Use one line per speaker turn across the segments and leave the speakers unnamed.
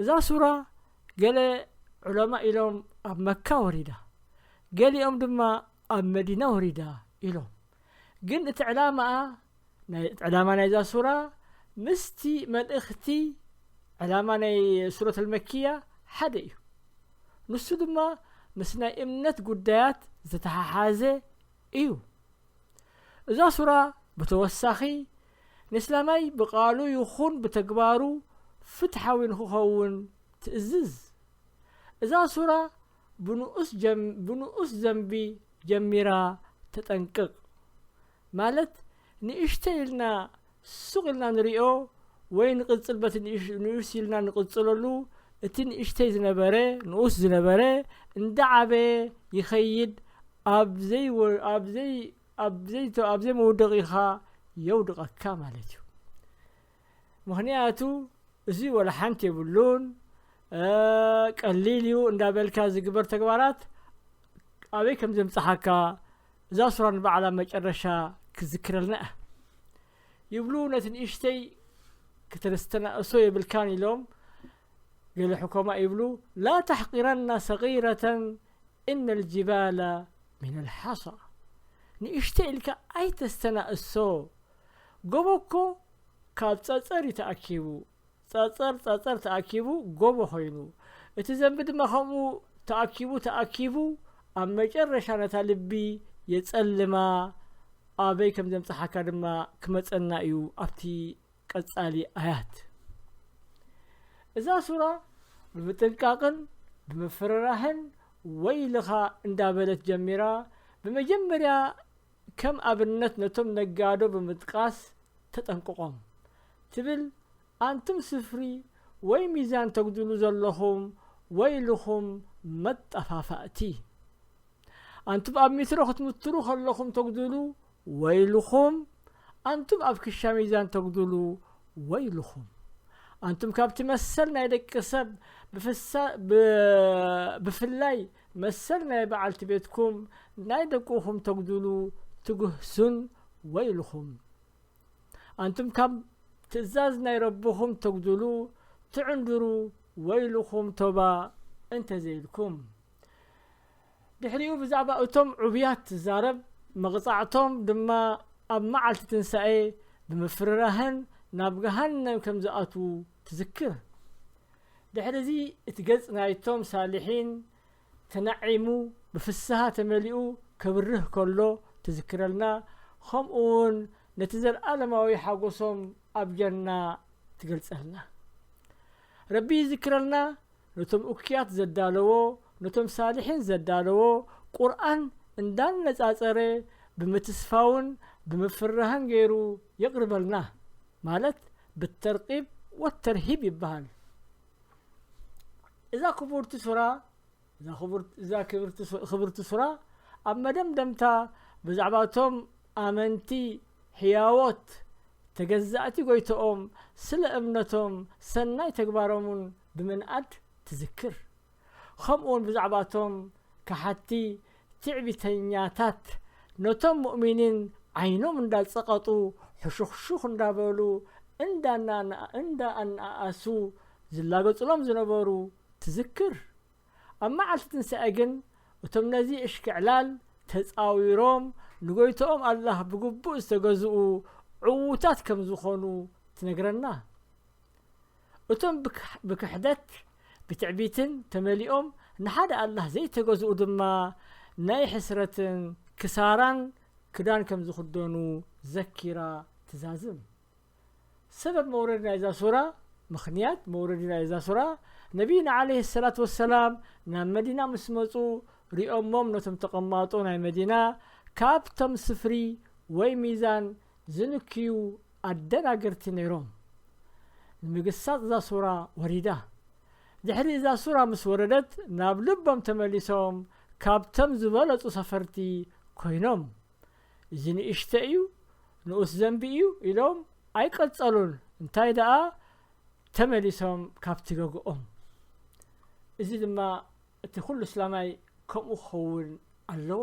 እዛ ሱራ ገለ ዑለማእ ኢሎም ኣብ መካ ወሪዳ ገሊኦም ድማ ኣብ መዲና ወሪዳ ኢሎም ግን እቲ ዕላማኣ ዕላማ ናይዛ ሱራ ምስቲ መልእኽቲ ዕላማ ናይ ሱረት ኣልመኪያ ሓደ እዩ ንሱ ድማ ምስ ናይ እምነት ጉዳያት ዝተሓሓዘ እዩ እዛ ሱራ ብተወሳኺ ንስላማይ ብቃሉ ይኹን ብተግባሩ ፍትሓዊ ንክኸውን ትእዝዝ። እዛ ሱራ ብንኡስ ዘንቢ ጀሚራ ተጠንቅቕ። ማለት ንእሽተይ ኢልና ሱቕ ኢልና ንሪኦ ወይ ንቕጽል በቲ ንኡስ ኢልና ንቕጽለሉ እቲ ንእሽተይ ዝነበረ ንኡስ ዝነበረ እንዳዓበየ ይኸይድ ኣብ ዘይ ኣብዘይመውደቒኻ የውድቐካ ማለት እዩ ምክንያቱ እዚ ወላ ሓንቲ የብሉን ቀሊል እዩ እንዳበልካ ዝግበር ተግባራት ኣበይ ከም ዘምፅሓካ እዛ ሱራ ንባዕላ መጨረሻ ክዝክረልና እያ ይብሉ ነቲ ንእሽተይ ክተስተናእሶ የብልካን ኢሎም ገለ ሕኮማ ይብሉ ላ ተሕቂረና ሰጊረተ እነ ልጅባለ ሚን ልሓሳ ንእሽተይ ኢልካ ኣይተስተናእሶ ጎቦ እኮ ካብ ጸጸር እዩ ተኣኪቡ ጸጸር ጸጸር ተኣኪቡ ጎቦ ኮይኑ እቲ ዘንቢ ድማ ከምኡ ተኣኪቡ ተኣኪቡ ኣብ መጨረሻ ነታ ልቢ የጸልማ ኣበይ ከም ዘምጽሓካ ድማ ክመጸና እዩ ኣብቲ ቀጻሊ ኣያት እዛ ሱራ ብምጥንቃቕን ብምፍርራህን ወይልኻ እንዳበለት ጀሚራ ብመጀመርያ ከም ኣብነት ነቶም ነጋዶ ብምጥቃስ ተጠንቅቖም ትብል ኣንቱም ስፍሪ ወይ ሚዛን ተጉድሉ ዘለኹም ወይልኹም መጠፋፋእቲ ኣንቱም ኣብ ሚትሮ ክትምትሩ ከለኹም ተጉድሉ ወይልኹም ኣንቱም ኣብ ክሻ ሚዛን ተጉዱሉ ወይልኹም ኣንቱም ካብቲ መሰል ናይ ደቂ ሰብ ብፍላይ መሰል ናይ በዓልቲ ቤትኩም ናይ ደቁኹም ተጉዱሉ ትግህሱን ወይልኹም ኣንቱም ካብ ትእዛዝ ናይ ረብኹም ተጉዱሉ ትዕንድሩ ወይልኹም ቶባ እንተዘይልኩም ድሕሪኡ ብዛዕባ እቶም ዕቡያት ትዛረብ፣ መቕጻዕቶም ድማ ኣብ መዓልቲ ትንሳኤ ብምፍርራህን ናብ ገሃነም ከም ዝኣትዉ ትዝክር። ድሕርዚ እቲ ገጽ ናይቶም ሳሊሒን ተናዒሙ ብፍስሃ ተመሊኡ ከብርህ ከሎ ትዝክረልና፣ ኸምኡውን ነቲ ዘልኣለማዊ ሓጐሶም ኣብ ጀና ትገልጸልና። ረቢ ይዝክረልና፣ ነቶም እኩያት ዘዳለዎ ነቶም ሳሊሒን ዘዳለዎ ቁርኣን እንዳነጻጸረ ብምትስፋውን ብምፍራህን ገይሩ የቅርበልና ማለት ብተርቂብ ወተርሂብ ይበሃል እዛ ክቡርቲ ሱራ እዛ ክቡርት እዛ ክብርቲ ሱ- ክብርቲ ሱራ ኣብ መደምደምታ ብዛዕባ እቶም ኣመንቲ ሕያዎት ተገዛእቲ ጎይቶኦም ስለ እምነቶም ሰናይ ተግባሮምን ብምንኣድ ትዝክር። ኸምኡውን ብዛዕባ እቶም ከሓድቲ ትዕቢተኛታት ነቶም ሙእሚኒን ዓይኖም እንዳጸቐጡ ሕሹኽሹኽ እንዳበሉ እንዳኣነኣኣሱ ዝላገጹሎም ዝነበሩ ትዝክር። ኣብ መዓልቲ ትንሳኤ ግን እቶም ነዚ እሽክዕላል ተጻዊሮም ንጎይትኦም ኣላህ ብግቡእ ዝተገዝኡ ዕዉታት ከም ዝኾኑ ትነግረና። እቶም ብክሕደት ብትዕቢትን ተመሊኦም ንሓደ ኣላህ ዘይተገዝኡ ድማ ናይ ሕስረትን ክሳራን ክዳን ከም ዝኽደኑ ዘኪራ ትዛዝም ሰበብ መውረድ ናይ እዛ ሱራ ምክንያት መውረድ ናይ እዛ ሱራ ነቢይና ዓለይህ ሰላት ወሰላም ናብ መዲና ምስ መፁ ሪኦሞም ነቶም ተቐማጦ ናይ መዲና ካብቶም ስፍሪ ወይ ሚዛን ዝንክዩ ኣደናገርቲ ነይሮም። ንምግሳጽ እዛ ሱራ ወሪዳ። ድሕሪ እዛ ሱራ ምስ ወረደት ናብ ልቦም ተመሊሶም ካብቶም ዝበለጹ ሰፈርቲ ኮይኖም። እዚ ንእሽተይ እዩ፣ ንኡስ ዘንቢ እዩ ኢሎም ኣይቀጸሉን እንታይ ደኣ ተመሊሶም ካብቲ ገግኦም። እዚ ድማ እቲ ኩሉ እስላማይ ከምኡ ክኸውን ኣለዎ።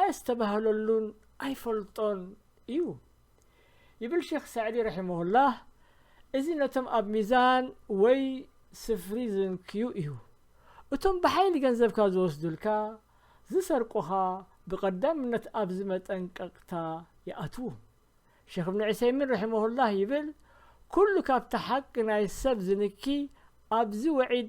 ኣየስተባህለሉን ኣይፈልጦን እዩ ይብል ሼኽ ሳዕዲ ረሒመሁላህ እዚ ነቶም ኣብ ሚዛን ወይ ስፍሪ ዝንክዩ እዩ እቶም ብሓይሊ ገንዘብካ ዝወስዱልካ ዝሰርቁኻ ብቐዳምነት ኣብዚ መጠንቀቕታ ይኣትዉ ሼኽ እብኒ ዑሰይሚን ረሒመሁላህ ይብል ኩሉ ካብቲ ሓቂ ናይ ሰብ ዝንኪ ኣብዚ ወዒድ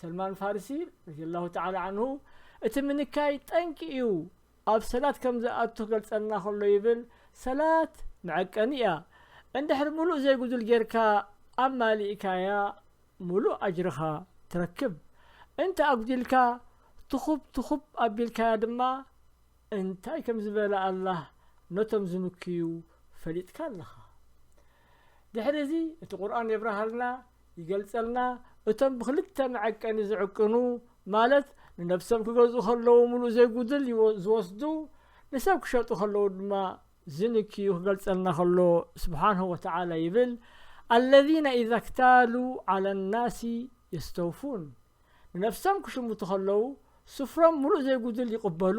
ሰልማን ፋርሲ ረዲየላሁ ተዓላ ዓንሁ እቲ ምንካይ ጠንቂ እዩ ኣብ ሰላት ከም ዝኣቱ ክገልጸልና ከሎ ይብል ሰላት መዐቀኒ እያ እንድሕር ምሉእ ዘይጉዱል ጌርካ ኣማሊእካያ ምሉእ ኣጅርኻ ትረክብ እንተ ኣጉዲልካ ትኹብ ትኹብ ኣቢልካያ ድማ እንታይ ከም ዝበለ ኣላህ ነቶም ዝምክዩ ፈሊጥካ ኣለኻ ድሕሪ እዚ እቲ ቁርኣን የብርሃልና ይገልጸልና እቶም ብክልተ መዐቀኒ ዝዕቅኑ ማለት ንነብሶም ክገዝኡ ከለዉ ምሉእ ዘይጉድል ዝወስዱ ንሰብ ክሸጡ ከለዉ ድማ ዝንክዩ ክገልጸልና ከሎ ስብሓንሁ ወተዓላ ይብል ኣለዚነ ኢዛ ክታሉ ዓላ ናሲ የስተውፉን ንነፍሶም ክሽምቱ ከለዉ ስፍሮም ምሉእ ዘይጉድል ይቕበሉ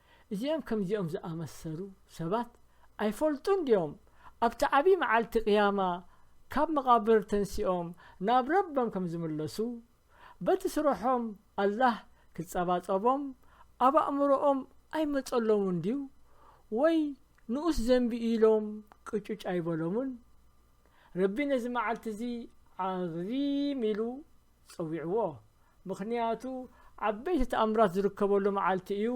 እዚኦም ከምዚኦም ዝኣመሰሉ ሰባት ኣይፈልጡን ድዮም ኣብቲ ዓቢ መዓልቲ ቅያማ ካብ መቓብር ተንሲኦም ናብ ረበም ከም ዝምለሱ በቲ ስርሖም ኣላህ ክጸባጸቦም ኣብ ኣእምሮኦም ኣይመጸሎምን ድዩ ወይ ንኡስ ዘንቢ ኢሎም ቅጩጭ ኣይበሎምን ረቢ ነዚ መዓልቲ እዚ ዓዚም ኢሉ ጸዊዕዎ ምኽንያቱ ዓበይቲ ተኣምራት ዝርከበሉ መዓልቲ እዩ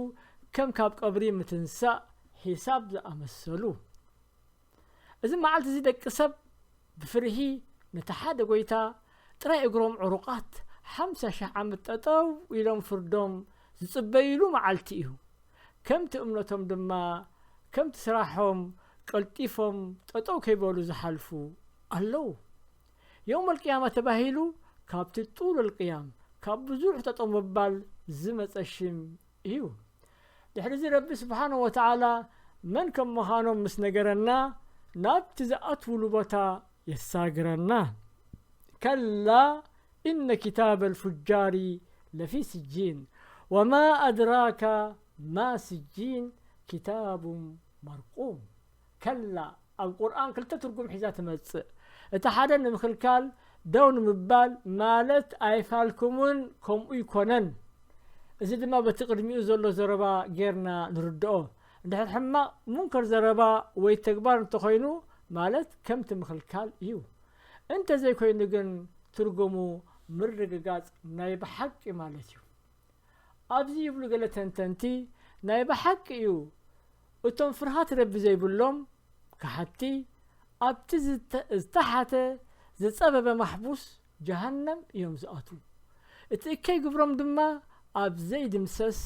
ከም ካብ ቀብሪ ምትንሳእ ሒሳብ ዝኣመሰሉ እዚ መዓልቲ እዚ ደቂ ሰብ ብፍርሂ ነቲ ሓደ ጎይታ ጥራይ እግሮም ዕሩቃት ሓምሳ ሽሕ ዓመት ጠጠው ኢሎም ፍርዶም ዝጽበይሉ መዓልቲ እዩ ከምቲ እምነቶም ድማ ከምቲ ስራሖም ቀልጢፎም ጠጠው ከይበሉ ዝሓልፉ ኣለው የውም ኣልቅያማ ተባሂሉ ካብቲ ጡል ኣልቅያም ካብ ብዙሕ ጠጠው ምባል ዝመፀ ሽም እዩ ድሕሪዚ ረቢ ስብሓነ ወተዓላ መን ከም ምዃኖም ምስ ነገረና ናብቲ ዝኣትውሉ ቦታ የሳግረና ከላ ኢነ ክታበ ልፉጃሪ ለፊ ስጂን ወማ ኣድራካ ማ ስጂን ክታቡ መርቁም ከላ ኣብ ቁርኣን ክልተ ትርጉም ሒዛ ትመጽእ እቲ ሓደ ንምክልካል ደው ንምባል ማለት ኣይፋልኩምን ከምኡ ይኮነን እዚ ድማ በቲ ቅድሚኡ ዘሎ ዘረባ ጌርና ንርድኦ እንድሕር ሕማቕ ሙንከር ዘረባ ወይ ተግባር እንተኾይኑ ማለት ከምቲ ምክልካል እዩ እንተዘይኮይኑ ግን ትርጉሙ ምርግጋጽ ናይ ብሓቂ ማለት እዩ ኣብዚ ይብሉ ገለ ተንተንቲ፣ ናይ ብሓቂ እዩ እቶም ፍርሃት ረቢ ዘይብሎም ከሓድቲ ኣብቲ ዝተሓተ ዝጸበበ ማሕቡስ ጀሃነም እዮም ዝኣትዉ። እቲ እከይ ግብሮም ድማ ኣብ ዘይድምሰስ፣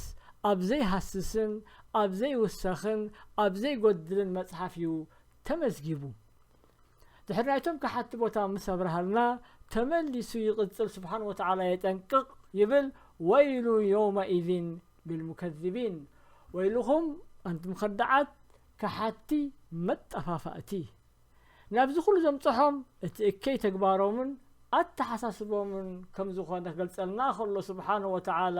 ኣብ ዘይሃስስን ኣብ ዘይውሰኽን ኣብ ዘይጎድልን መጽሓፍ እዩ ተመዝጊቡ። ድሕር ናይቶም ከሓቲ ቦታ ምስ ኣብርሃልና ተመሊሱ ይቕጽል ስብሓን ወተዓላ የጠንቅቕ ይብል ወይሉ ዮውመኢዝን ልልሙከዚቢን ወይልኹም ኣንቱም ኸዳዓት ከሓቲ መጠፋፋእቲ ናብዚ ኩሉ ዘምጽሖም እቲ እከይ ተግባሮምን ኣተሓሳስቦምን ከም ዝኾነ ክገልጸልና ከሎ ስብሓን ወተዓላ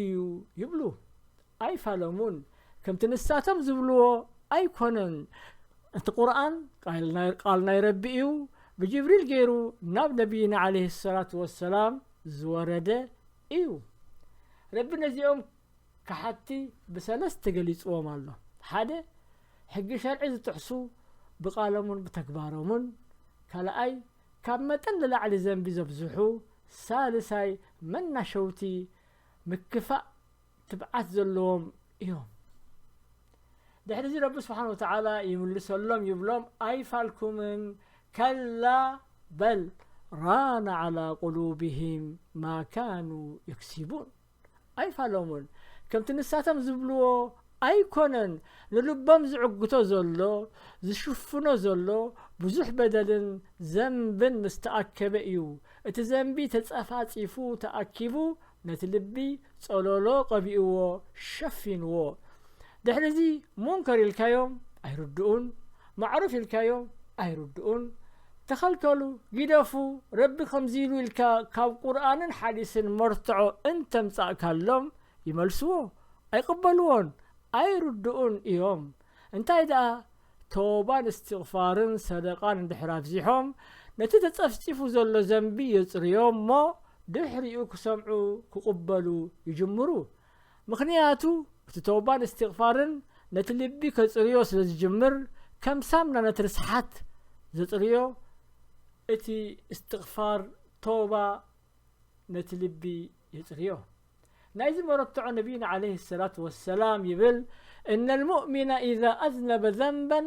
እዩ ይብሉ ኣይፋለሙን ከምቲ ንሳቶም ዝብልዎ ኣይኮነን እቲ ቁርኣን ቃል ናይ ረቢ እዩ ብጅብሪል ገይሩ ናብ ነቢይና ዓለይህ ሰላት ወሰላም ዝወረደ እዩ ረቢ ነዚኦም ክሓቲ ብሰለስት ተገሊፅዎም ኣሎ ሓደ ሕጊ ሸርዒ ዝጥሕሱ ብቃሎምን ብተግባሮምን ካልኣይ ካብ መጠን ንላዕሊ ዘንቢ ዘብዝሑ፣ ሳልሳይ መናሸውቲ ምክፋእ ትብዓት ዘለዎም እዮም። ድሕሪዚ ረቢ ስብሓን ወተዓላ ይምልሰሎም ይብሎም ኣይፋልኩምን ከላ በል ራነ ዓላ ቁሉብህም ማ ካኑ የክሲቡን ኣይፋሎሙን ከምቲ ንሳቶም ዝብልዎ ኣይኮነን ንልቦም ዝዕግቶ ዘሎ ዝሽፍኖ ዘሎ ብዙሕ በደልን ዘንብን ምስ ተኣከበ እዩ እቲ ዘንቢ ተጸፋጺፉ ተኣኪቡ ነቲ ልቢ ጸሎሎ ቀቢእዎ ሸፊንዎ ድሕሪዚ ሙንከር ኢልካዮም ኣይርድኡን ማዕሩፍ ኢልካዮ ኣይርድኡን ተኸልከሉ ጊደፉ ረቢ ከምዚ ኢሉ ኢልካ ካብ ቁርኣንን ሓዲስን መርትዖ እንተምጻእካሎም ይመልስዎ ኣይቅበልዎን ኣይርድኡን እዮም እንታይ ደኣ ቶባን እስትቕፋርን ሰደቓን እንድሕር ኣብዚሖም ነቲ ተጸፍጺፉ ዘሎ ዘንቢ የጽርዮ እሞ ድሕሪኡ ክሰምዑ ክቕበሉ ይጅምሩ ምኽንያቱ እቲ ተውባን እስቲቕፋርን ነቲ ልቢ ከጽርዮ ስለ ዝጅምር ከም ሳምና ነቲ ርስሓት ዘጽርዮ እቲ እስቲቕፋር ተውባ ነቲ ልቢ የጽርዮ ናይዚ መረትዖ ነቢይና ዓለይሂ ሰላቱ ወሰላም ይብል እነ ልሙእሚነ ኢዛ ኣዝነበ ዘንበን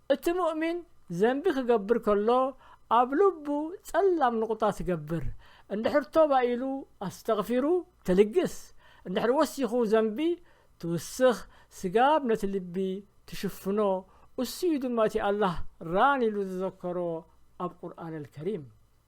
እቲ ሙእሚን ዘንቢ ክገብር ከሎ ኣብ ልቡ ጸላም ንቑጣ ትገብር፣ እንድሕር ቶባ ኢሉ ኣስተግፊሩ ትልግስ፣ እንድሕር ወሲኹ ዘንቢ ትውስኽ ስጋብ ነቲ ልቢ ትሽፍኖ፣ እሱ'ዩ ድማ እቲ ኣላህ ራን ኢሉ ዝዘከሮ ኣብ ቁርኣነል ከሪም።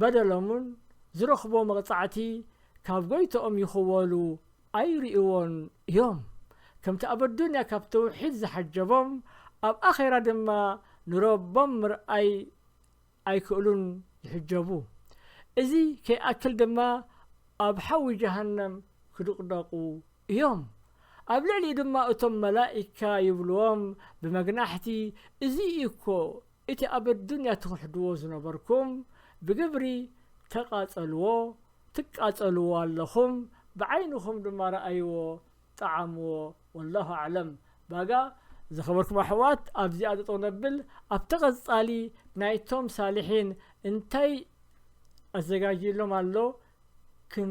በደሎምን ዝረኽብዎ መቕጻዕቲ ካብ ጎይትኦም ይኽወሉ ኣይርእይዎን እዮም። ከምቲ ኣብ ኣዱንያ ካብ ተውሒድ ዝሓጀቦም ኣብ ኣኼራ ድማ ንረቦም ምርኣይ ኣይክእሉን ይሕጀቡ። እዚ ከይኣክል ድማ ኣብ ሓዊ ጀሃነም ክድቕደቑ እዮም። ኣብ ልዕሊኡ ድማ እቶም መላኢካ ይብሉዎም ብመግናሕቲ እዚ እዩ እኮ እቲ ኣብ ኣዱንያ ትኽሕዱዎ ዝነበርኩም ብግብሪ ተቃጸሉዎ ትቃጸሉዎ ኣለኹም ብዓይንኹም ድማ ረኣዩዎ ጠዓሙዎ ወላሁ ኣዕለም ባጋ ዝኸበርኩም ኣሕዋት ኣብዚኣ ጠጠው ነብል ኣብቲ ቀጻሊ ናይቶም ሳልሒን እንታይ ኣዘጋጅዩሎም ኣሎ ክን